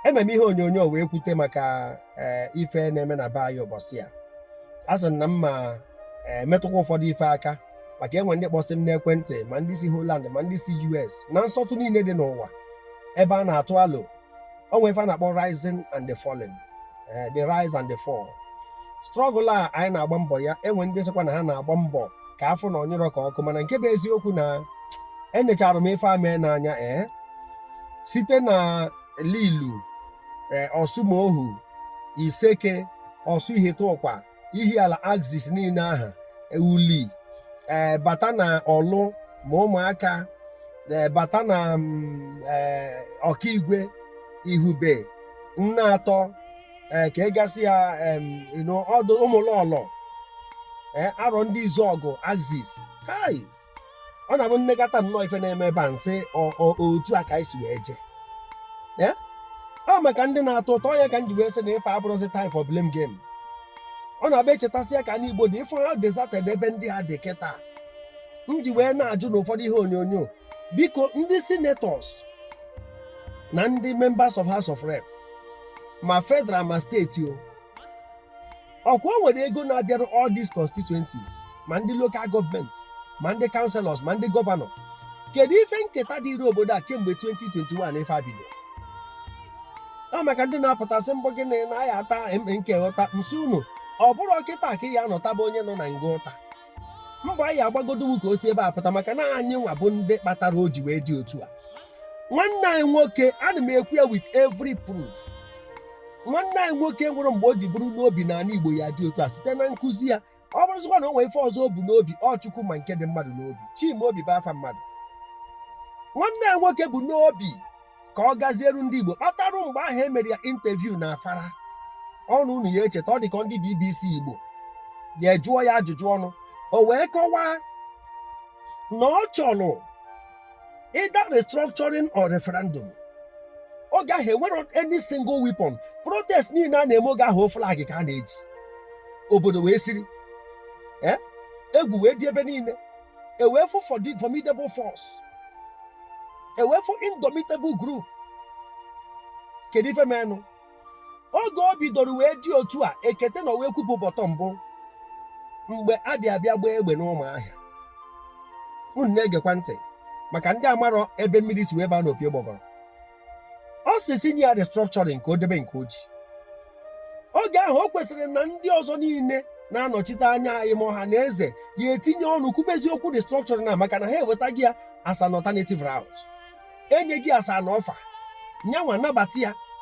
ememe ihe onyonyo wee kwute maka eh, ife na-eme na be anyị ụbọchị a asị na m ma-emetụkwa ụfọdụ ife aka maka e nwe ndị kpọsị m n'ekwentị ma ndị si Holland ma ndị si US na nsọtụ niile dị n'ụwa ebe a na-atụ alo o nwe ife a na-akpọ rising and the falling eh, the rise and the fall struggle a anyị na-agba mbọ ya e nwe ndị sịkwa na ha na-agba mbọ ka a fụ na ọ nyụrụ ka ọkụ mana nke bụ eziokwu na enechara m ife a mee n'anya ee eh, site na lilu e, ọsụmoghu iseke ọsụ ihiteụkwa ihiala axis niile ahụ e, uli e, bata na ọlụ ma ụmụaka e, bata na mm, e, okigwe ihube nneatọ e, ka ị gasịa em, you know, ọdụ ụmụlọlọ e, arọndizuọgụ axis kai ọ na-abụ m nekata nnọọ ife na-eme ebe a m sị ọ- ọ- otu a ka anyị si wee jee ya? ọ maka ndị na-ata ụta ya ka m ji wee sị na ife a abụrọzi time for blame game ọ na-abụ e chetasịa ka anị igbo dị ị fụ how deserted ebe ndị a dị kịta m ji wee na-ajụ na ụfọdụ ihe onyonyo biko ndị senators na ndị members of house of rep ma federal ma steeti o ọ kwa o nwere ego na-abịara all these constituencies ma ndị local gọọmenti ma ndị councillors ma ndị gọvanọ kedu ife nketa dịrị obodo a kemgbe 2021 ife a bido ọ maka ndị na-apụta sị m bụ gịnị na a ya-ata MNK ụta m sị unu ọ bụrọ kịta ka a ya-anọ taba onye nọ na nga ụta mbọ anyị agbagodo bụ ka o si ebe a pụta maka na anyị nwa bụ ndị kpatara o ji wee dị otu a nwanne anyị nwoke ana m ekwu ya with every proof nwanne anyị nwoke enwerọ mgbe o ji buru n'obi na ala igbo ya-adị otu a site na nkụzi ya ọ bụrụzikwa na o nwee ife ọzọ o bu n'obi ọ chukwu ma nke dị mmadụ n'obi chimaobi bụ afa mmadụ nwanne anyị nwoke bu n'obi ka ọ gazieru ndị igbo kpatarụ mgbe ahụ e mere ya interview na afaraukwu unu ya-echeta ọ dị ka ndị bbc igbo ya ejụọ ya ajụjụ ọnụ o wee kọwaa na ọ chọrọ either restructuring or referendum oge ahụ enwerọ any single weapon protest niile a na-eme oge ahụ ọ flag ka a na-eji obodo wee siri eh? egwu wee dị ebe niile e wee fụ formidable force e wee fụ indomitable group kedu ife menụ oge o bidoro wee dị otu a ekete nọ wee kwupu bottom bụ mgbe a bịa bịa gbaa egbe n'ụmụahịa unu na-egekwa ntị maka ndị amarọ ebe mmiri si wee baa n'opi ụgbọgọrọ ọ sị sị nye ya restructuring ka o debe nke o ji oge ahụ o kwesịrị na ndị ọzọ niile na-anọchite anya anyị ma ọha na eze ya-etinye ọnụ kwubezie okwu restructuring a maka na ha ewetaghị ya as an alternative route enyeghị ya as an offer nya nwa nabata ya